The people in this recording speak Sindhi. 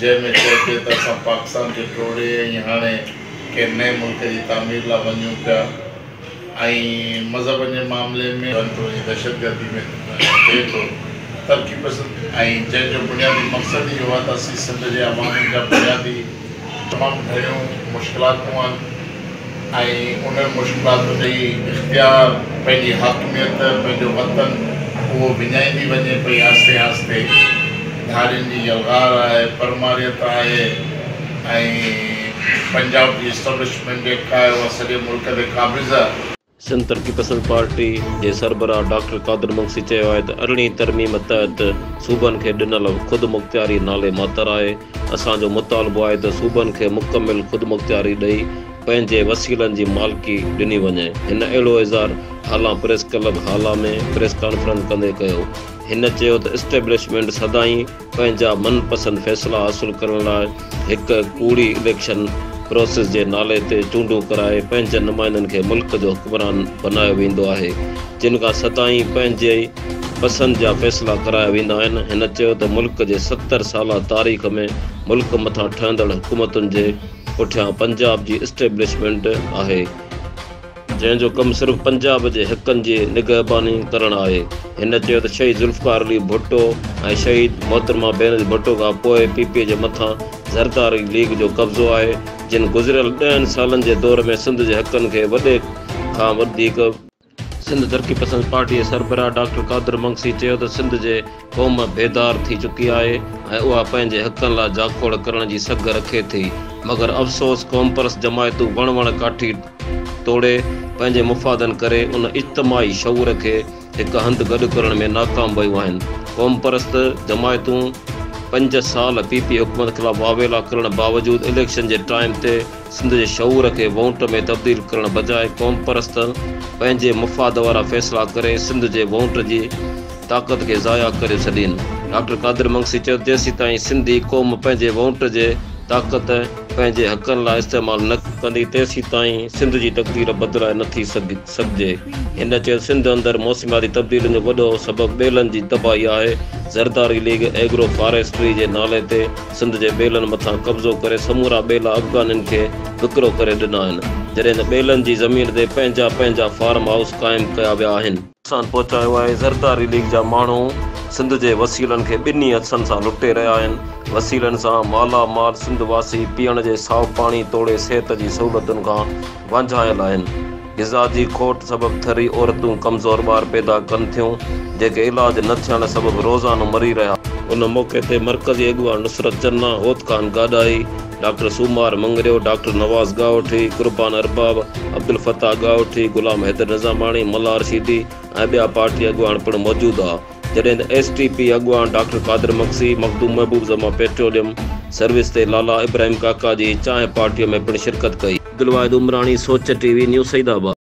جنهن ۾ چئبي ته اسان پاڪستان کي ٽوڙي ۽ هاڻي ڪنهن نئين ملڪ جي تعمير لا وڃون پيا ۽ مذهبن جي معاملي ۾. ڪنترو جي دهشتگردي ۾ ٿئي ٿو ترقي پسند ۽ جنهن جو بنيادي مقصد ئي اهو آهي ته اسين سنڌ جي عوام جا بنيادي. تمام گهڻيون مشڪلاتون آهن. ۽ انهن مشڪلاتن تي ئي اختيار، پنهنجي حاڪميت، پنهنجو وطن، اهو وڃائيندي وڃي پئي آهستي آهستي. ڌارين جي يلغار آهي، پرماريت آهي ۽ پنجاب جي اسٽبلشمينٽ جيڪا آهي اها سڄي ملڪ تي قابض. سنڌ ترقي پسند پارٽي جي سربراهه ڊاڪٽر قادر مگسي چيو آهي ته ارڙهين ترميم تحت صوبن کي ڏنل خودمختياري نالي ماتر آهي، اسان جو مطالبو آهي ته صوبن کي مڪمل خودمختياري ڏئي پنهنجي وسيلن جي مالڪي ڏني وڃي، هن اهڙو اظهار هالان press club Hala ۾ press conference ڪندي ڪيو، هن چيو ته اسٽيبلشمينٽ سدائين. پنهنجا من پسند فيصلا حاصل ڪرڻ لاء هڪ ڪوڙي اليڪشن پروسيس جي نالي تي چونڊون ڪرائي پنهنجن نمائندن کي ملڪ جو حڪمران بنايو ويندو آهي جن کان سدائين پنهنجي پسند جا فيصلا ڪرايا ويندا آهن هن چيو ته ملڪ جي ستر سالا تاريخ ۾ ملڪ مٿان ٺهندڙ حڪومتن جي پٺيان پنجاب جي اسٽيبلشمينٽ آهي جنهن جو ڪم صرف پنجاب جي حقن جي نگهباني ڪرڻ آهي. هن چيو ته شهيد ذوالفقار علي ڀٽو ۽ شهيد محترمه بينظير ڀٽو کان پوء پي پي جي مٿان زرداري ليگ جو قبضو آهي جن گذريل ڏهن سالن جي دور ۾ سنڌ جي حقن کي وڏي کان وڌيڪ سنڌ ترقي پسند پارٽي جي سربراهه ڊاڪٽر قادر مگسي چيو ته سنڌ جي. قوم بيدار ٿي چڪي آهي ۽ اها پنهنجي حقن لا جاکوڙ ڪرڻ جي سگهه رکي ٿي مگر افسوس قومپرست جماعتون وڻ وڻ ڪاٺي ٽوڙي پنهنجي مفادن ڪري ان اجتماعي شعور کي هڪ هنڌ گڏ ڪرڻ ۾ ناڪام ويون آهن قومپرست جماعتون پنج سال پي پي حڪومت خلاف واويلا ڪرڻ باوجود اليڪشن جي ٽائيم تي سنڌ جي شعور کي وونٽ ۾ تبديل ڪرڻ بجاء قومپرست پنهنجي مفاد وارا فيصلا ڪري سنڌ جي وونٽ جي طاقت کي ضايع ڪري ڇڏين. ڊاڪٽر قادر مگسي چيو ته جيسيتائين سنڌي قوم پنهنجي وونٽ جي طاقت پنهنجي حقن لاء استعمال نه ڪندي تيسيتائين سنڌ جي تقدير بدلائي نه ٿي سگهجي. هن چيو ته سنڌ اندر موسمياتي تبديلين جو وڏو سبب ٻيلن جي تباهي آهي، زرداري ليگ ايگرو فاريسٽري جي نالي تي سنڌ جي ٻيلن مٿان قبضو ڪري سمورا ٻيلا افغانين کي وڪرو ڪري ڏنا آهن، جڏهن ته ٻيلن جي زمين تي پنهنجا پنهنجا فارم هائوس قائم ڪيا ويا آهن. نقصان پهچايو آهي، زرداري ليگ جا ماڻهو سنڌ جي وسيلن کي ٻنهي هٿن سان لٽي رهيا آهن، وسيلن سان مالا مال سنڌ واسي پيئڻ جي سائو پاڻي توڙي صحت جي سهولتن کان وانجهايل آهن، غذا جي کوٽ سبب ٿري عورتون ڪمزور ٻار پيدا ڪن ٿيون، جيڪي علاج نه ٿيڻ سبب روزانو مري رهيا. ان موقعي تي مرڪزي اڳواڻ نصرت جناح هوت خان گاڏاهي، ڊاڪٽر سومار مڱريو، ڊاڪٽر نواز ڳاهوٺي، قربان ارباب، عبدالفتاح ڳاهوٺي، غلام حيدر نظاماڻي، ملا رشيدي ۽ ٻيا پارٽي اڳواڻ پڻ موجود هئا، جڏهن ته ايس ٽي پي اڳواڻ doctor Qadir Magsi, Makhdoom Mehboob Zaman petroleum service تي لالا ابراهيم ڪاڪا جي چانهه پارٽيء ۾ پڻ شرڪت ڪئي. عبدالواحد عمراڻي، سوچ ٽي وي، نيو سعيد آباد.